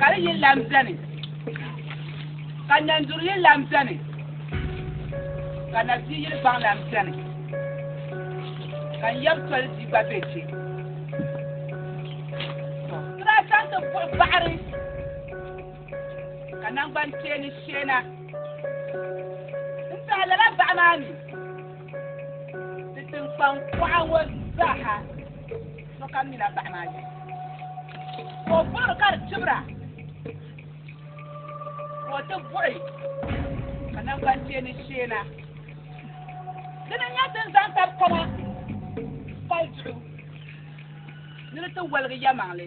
ka di yini lan beni, ka nɛnduri yini lan beni, ka na bia yini gbaŋ lan beni, ka n yab toli bia gba be chɛ. Sira chaŋ ti buɣi baɣiri. ka nangbani kpeeni sheena n-tiɣi lala baɣa maa mi di tiŋkpaŋ kuɣa ŋɔ zaaha sokam mila baɣa maa yɛli ka o buɣiri ka di tibira ka o ti buɣi ka nangbani kpeeni sheena dini n-nyɛ din zaŋ tabi kama kpali duɣu ni di ti waligi yɛmaŋli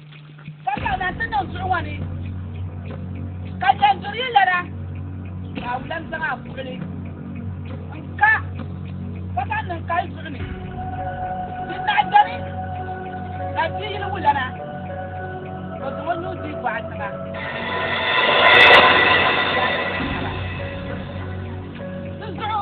Ka zaŋ na ti niŋ zuɣu ŋɔ ni, ka yɛn duri yi lana, ka a wulam zaŋ a buɣili n-ka ka zaŋ niŋ ka yi zuɣu ni, din naɣ dɔni ka di di yili wulana, o zaŋ o nuu dihi bɔɣa tiŋa, ka zaŋ o nuu dihi a naba. Di zuɣu.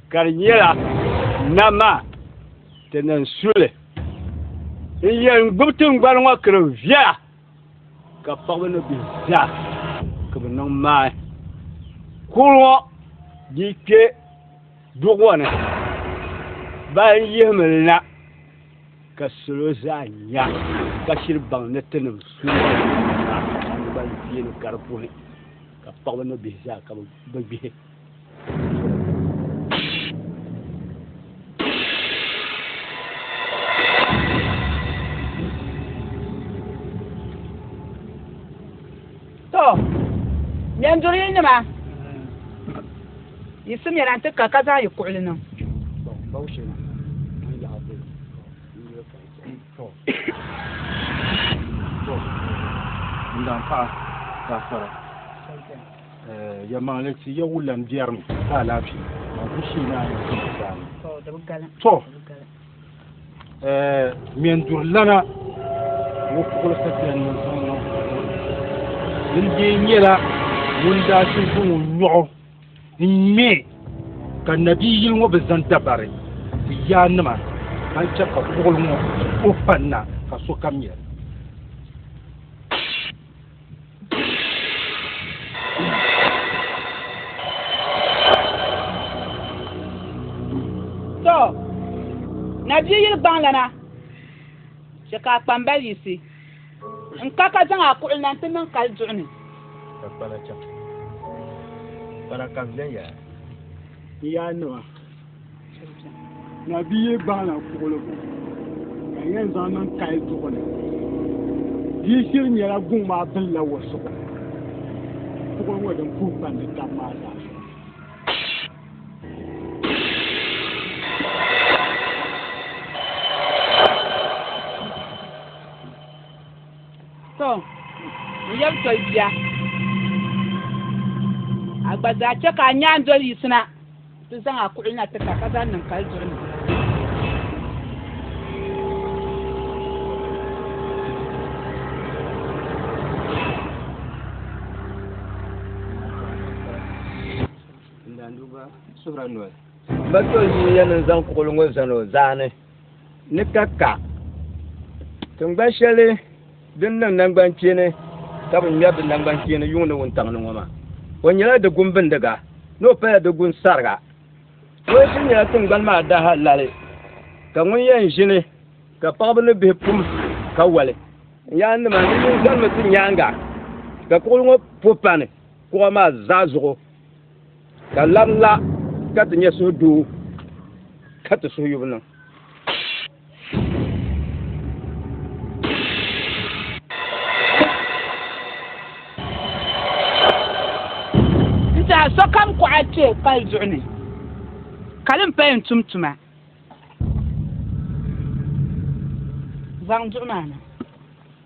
Ka di nyɛla na maa ti niŋ suli n-yɛn gbubi tiŋgbani ŋɔ kiri viɛla ka paɣiba ni bihi zaa ka bɛ niŋ maai kul ŋɔ di kpe du ŋɔ ni ba n yihimi li na ka salo zaa nya ka shiri baŋ ni ti niŋ suli maa tiŋgbani viɛli kari puhi ka paɣiba ni bihi zaa ka bɛ gbihi. Nyanduri yi nima yi si mɛla nti ka ka zaŋ yi kuɣili niŋ. Ndam paɣa ka sara. Ya maŋli ti ya wulan biɛrimi ka alaafee maa ku shee ni a ni ti mi daani. Tɔ! Ŋmɛn duri lana ŋɔ puɣili sapiyan ni zaŋ niŋ buɣili. Din dee nyɛla ŋun daa ti zaŋ o nyɔɣu n-ŋmɛ ka nabi yili ŋɔ bi zaŋ dabari ti ya nima ka chɛ ka buɣili ŋɔ ku pa na ka sokam nya li. to na bia yili gbaŋlana chɛ ka a kpambali yisi n ka ka zaŋ a kuɣili na nti niŋ kali duɣu ni ka kpana chaŋ kpana ka viɛnyɛla n yaannima Na bi ye baana kuɣuligu ka yɛn zaŋ niŋ kali duɣu ni. Bia shiri nyɛla guŋ maa bilila wa zuɣu kuɣu ŋɔ din puhi pandi tab maa zaa. To, n yɛbi toli bia. A gba zaa chɛ ka a nyaandoli yiɣisina. Ti zaŋ a kuɣili na tirita ka zaŋ niŋ kali duɣu ni. N-daa nduba suhira noli. Ba ti o ʒii ya ni n-zaŋ kuɣili ŋɔ zani o zaani. ni ka ka tingban shɛli din niŋ nangban kpeeni ka bi ŋmɛri di nangban kpeeni yuŋni wuntaŋ ni ŋɔ maa o nyɛla di gun bindiga ni o pala di gun sariga ŋɔ kuli nyɛla tingbani maa daha lali ka ŋun yɛn ʒini ka paɣaba ni bihi pum ka wali n yaa nima ni yin zanimi ti nyaanga ka kuɣu ŋɔ po pani kuɣu maa zaa zuɣu ka labila ka ti nyɛ suhu doo ka ti suhu yubu niŋ sokam kɔɣa kpɛ pali zuɣu ni ka din paya n tum tuma zaŋ duɣu maa na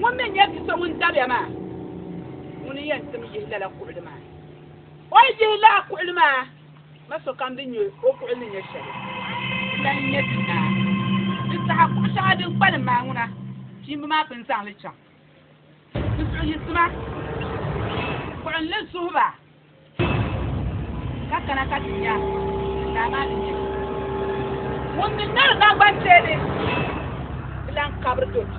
Ŋun mi n-nyɛ bi so ŋun dabiya maa, ŋuni n-yɛn tim yihi lala kuɣili maa? O yi yihi lala kuɣili maa, ma sokam din nyɛ o kuɣili ni nyɛ shɛli, di lan nyɛ ti naa. Di saha kuɣ shɛŋa din kpalim maa ŋuna, kpiimba maa pun zaŋ li chaŋ. Di suhuyiɣisima, buɣim li zuhi ba. Ka kana ka ti nya din daa maa ni nyɛ. Ŋun mi ŋmɛri naŋgban teeni bi lan kabiri do ti.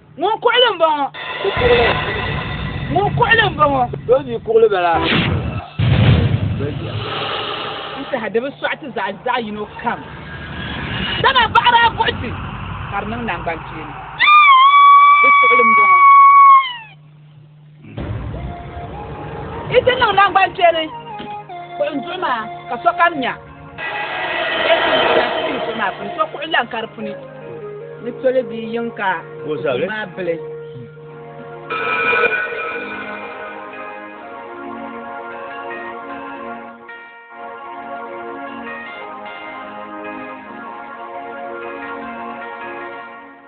Ŋun kuɣili m-bɔŋɔ. O kuɣili. Ŋun kuɣili m-bɔŋɔ. Bɛ ni kuɣili ba la. N saha di bi sɔɣi ti zaɣ zaɣ yino kam, dama baɣiri a buɣi ti ka di niŋ naŋgbankpeeni. Ŋun kuɣili m-bɔŋɔ. i ti niŋ naŋgban kpɛli kuɣu n duɣu maa ka sokam nya maa puni so kuɣu lan ka di puni ni toli bia yiŋ ka maa bili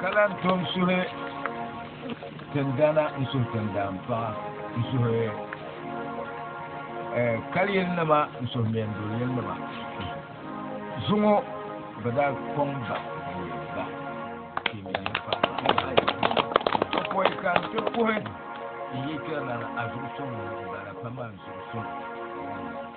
ka lan tom suhi tindana n suhi tindan paɣa n suhi eh, kali yili nima n suhi meen duli yili nima zuŋɔ bi daa kɔŋ ba ba pɔi ka n ti kuhi n yi kpɛrila a zuɣu sɔŋ bala pama n zuɣu sɔŋ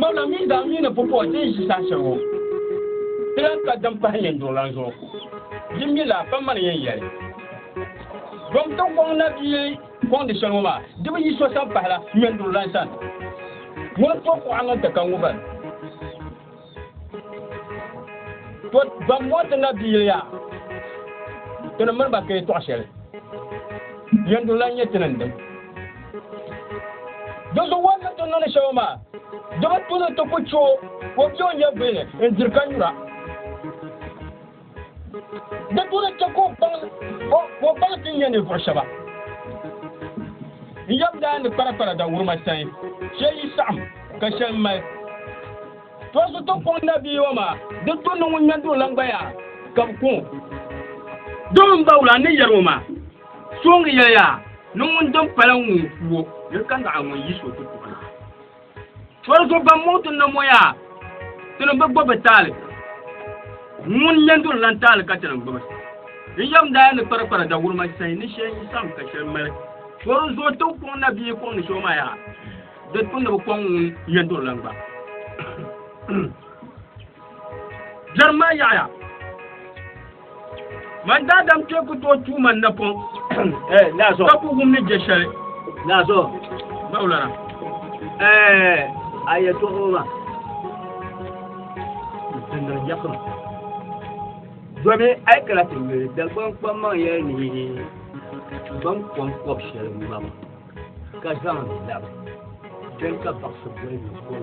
Mɔna mini daa mi ni pupuɣi ti yi ʒi saha shɛli ŋɔ, ti lahi ka din pahi nyɛnduɣu lan zuɣu. Di mi laa pa mani yɛn yɛli. Dɔm ti kɔŋ na bɛ yi kɔŋ di shɛli ŋɔ maa, di bi yi so sani pahila nyɛnduɣu lan sani. Ŋuni tɔb kuɣa ŋun ti ka ŋubal? to ban mɔri ti na biiliya tini mini ba kee tɔɣ shɛli yɛnduri la nyɛ tini n-dim do so wan ni ti nini shɛba maa do bi tuni ti ku cho o bɛ o nyɛ bini n-diri ka nyura Di duri chɛ ka o baŋ ti nya ninvuɣ shɛba n yɛm daa ni kparikpara dawurima sani shɛl yi saɣim ka shɛli mali. Tɔɣisi ti kɔŋ nabiiwa maa, di tu ni ŋun nya duulan gbaya ka bɛ kɔŋ o. Dɔɣi m baawula ni yɛri o maa, Sooŋi yɛliya ni ŋun din pala ŋun ku o ni ka naɣi ŋun yiɣis o ti tuɣi na. Tɔri so ban mɔɣu ti na mɔ yaa, ti ni bi gbubi taali. Ŋun yɛn duri lan taali ka ti ni gbubi. N yɛm daa ni kpari kpari dawurima sayi ni shɛli yi sam ka shɛli mali. Tɔri so ti kɔŋ na bia kɔŋ ni so ma yaa, di ti ni bi kɔŋ ŋun yɛn duri lan gba. Jɛrim maa yaɣiya. man daadam kpɛ ku tooi tuu man napɔŋ ka ku wum ni je shɛli bawlara a yɛtɔɣoma dindiri yakima domi a yi kana ti yuli dagbamkpam man yɛli ni ban kɔm kɔb shɛli mam ka zaŋ labi kpɛm ka baɣasi boli ni kɔm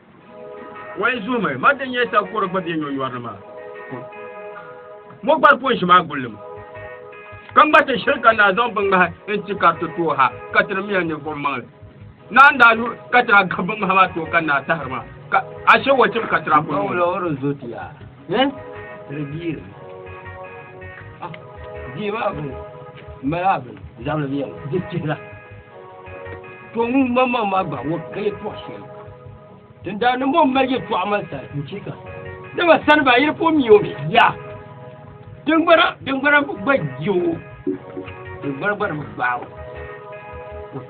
Wai zuhimi ma din nyɛ sakoro gba bɛ nyonyɔri ni maa mo gbari ko n ʒi maa gulli mu ka ŋma ti shiri ka naa zaŋ bin ŋmahi n ti kariti tooi ha ka tiri miya ninvuɣu maŋli naa n daa yu ka tira gabi bin ŋmahi maa tooi ka naa tahiri maa ka ashe wo tim ka tira kuli Hɛ? Di biiri. Ah, bia maa bini. Mala bini. Zabili bia. Di chihira. To ŋun ma ma ma gba wo ka yi tɔɣa shɛli. Tin daa ni mo mali yi tɔɣa mali sani. N chika. Dama sani ba yiri po mi o mi. Ya. Dingbana dingbana gba ji o. Dingbana gba ni gbaai o.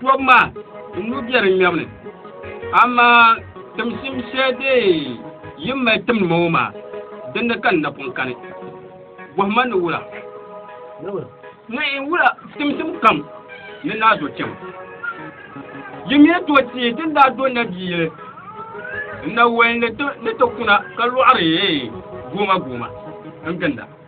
Tɔbu maa n lu bɛ di ŋmɛbu ni, amaa timsim shɛli din yi mali timdi ma ŋɔ maa, dini ka n na pun kani? Bɔhi ma ni wula? Ni yi wula timsim kam ni naa do kpɛma. Yi mi ni tooi teei ti ni daa do nabiiyili n na wali ni ti kuna ka lɔɣiri gooma gooma n-ginda.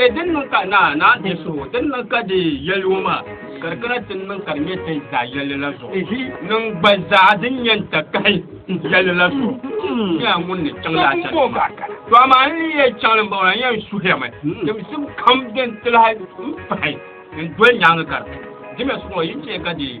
E din niŋ ka naa naa di so din niŋ ka di yɛli o maa ka di kana ti niŋ ka di nyɛ ti zaa yɛli la zuɣu niŋ gba zaa din nyɛ n ta kahi yɛli la zuɣu nyɛla ŋun ni chaŋ laa chɛli to amaa n ni yɛ chaŋ ni bɔŋɔ la n yɛn suhirimi timsim kam din ti lahi n pahi n doli nyaangi ka di di mi suŋɔ yi chɛ ka di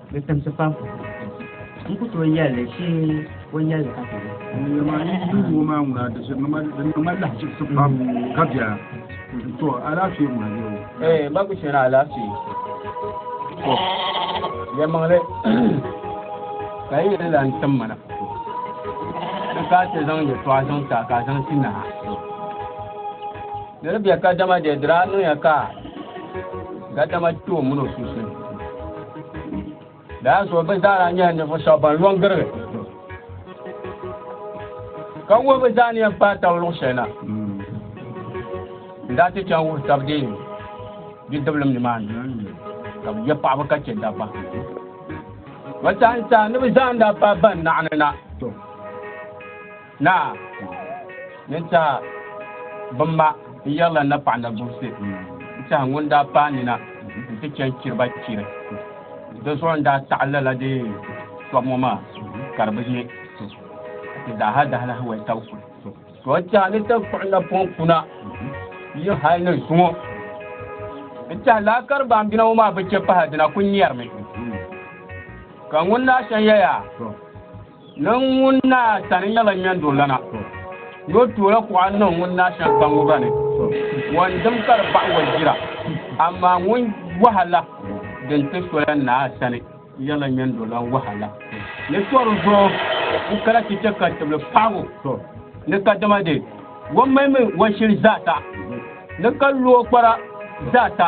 Di timsi pam. N ku tooi yɛli li shee o yɛli li ka ti nya. Diɛma ayi yi ni wuhi maa ŋuna di niŋ ma di niŋ ma lahichiɣisi pam ka biɛra. To alaafee ŋuna bɛ o. Ee ma ku chɛla alaafee. To yɛlimaŋli ka yi yi ni lan tim ma na di ka ti zaŋ yɛltɔɣa zaŋ ti a ka a zaŋ ti naha. Niri bɛ ka dama de dira niŋ ya ka ga dama kpe o mini o sunsuuni daa zuɣu bi zaa daa nyɛla ninvuɣu shɛba ban lɔn girigi ka wuhi bi zaa ni yɛn paai taba luɣu shɛli na n daa ti chaŋ wuhi taba deei bidibilim nimaani ka bi yɛ paɣaba ka chɛ dabba ba saha n saha ni bi zaa n daa paai ban naɣani na Naa, yin tɛha bim ma n yɛri la na paɣa Nabuse n tɛha ŋun daa paai nina n ti chɛn chiri ba chiri. Di zuɣu n daa taɣi lala di tɔbu ŋɔ maa ka di bi nyɛ ka ti daaha dahalahi wali tabi kuli. To tɛha ni taŋkpuɣu napɔŋ kuna yi hali ni zuŋɔ n tɛha laa ka di baanbina ŋɔ maa bi chɛ pahi dina kuli nyɛrimi ka ŋun naa shɛn yɛya. Niŋ ŋun naa sani nyɛla ŋmɛndurulana ni o toola kuɣa niŋ ŋun naa shɛŋa kpaŋŋo gba ni o ni dim ka di baɣa o jira amaa ŋun wahala din ti sola naa sani nyɛla ŋmɛndurulana wahala ni tɔri zuɣu n kana ti chɛ ka tibili paɣibu ni kadama de o malimi o shili zaasa ni ka lo o kpara zaasa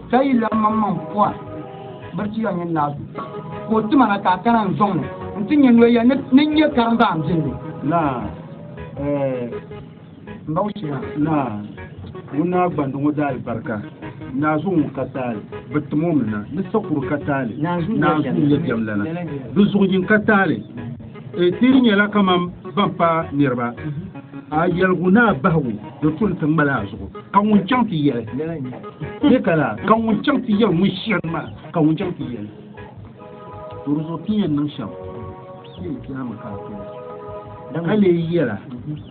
Ka yi lan maŋ maŋ pɔra biri ti ya nyin naa zuɣu, ka o ti ma na ka a kana n-zɔŋ ni n ti nya noya ni ni n nyɛ karimba a ni bɛn ni. Naa, eh, m ba o chɛ naa. Naa, ŋun naa gbandi ŋɔ daali barika, naazuu ŋun ka taali, bɛ tim o mi na, ni sakuru ka taali, naazuu n-nyɛ bɛm lana, di zuɣu yin ka taali. E ti di nyɛla kamam ban pa niriba a yɛligu ni a bahigu di kuli ti ŋmali a zuɣu ka ŋun chaŋ ti yɛli bɛ ka la ka ŋun chaŋ ti yɛli ŋun shiri ma ka ŋun chaŋ ti yɛli to di zuɣu ti yɛn niŋ shɛm ti yɛn ti ama ka a kuli ka lee yɛla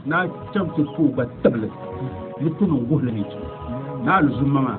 ni a chaŋ ti pooi gba tibili ni ti niŋ guhili ni ti na a luzumma maa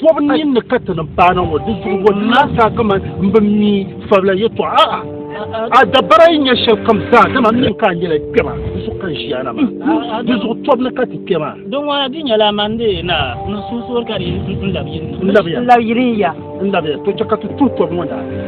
Tɔbu ni ni ka ti ni paana ŋɔ di zuɣu bɔ naa saa kaman m bi mi fabila yɛtɔɣa a a dabara yi nyɛ shɛli kam zaa dama m mi ka a nyɛla kpɛma di zuɣu ka n ʒiya na maa di zuɣu tɔbu ni ka ti kpɛ maa Din ŋɔ di nyɛla man di naa ni sunsuuni ka di n labi yiri n labiya yiri n ya n labiya to chɛ ka ti tuhi tɔbu ŋɔ daa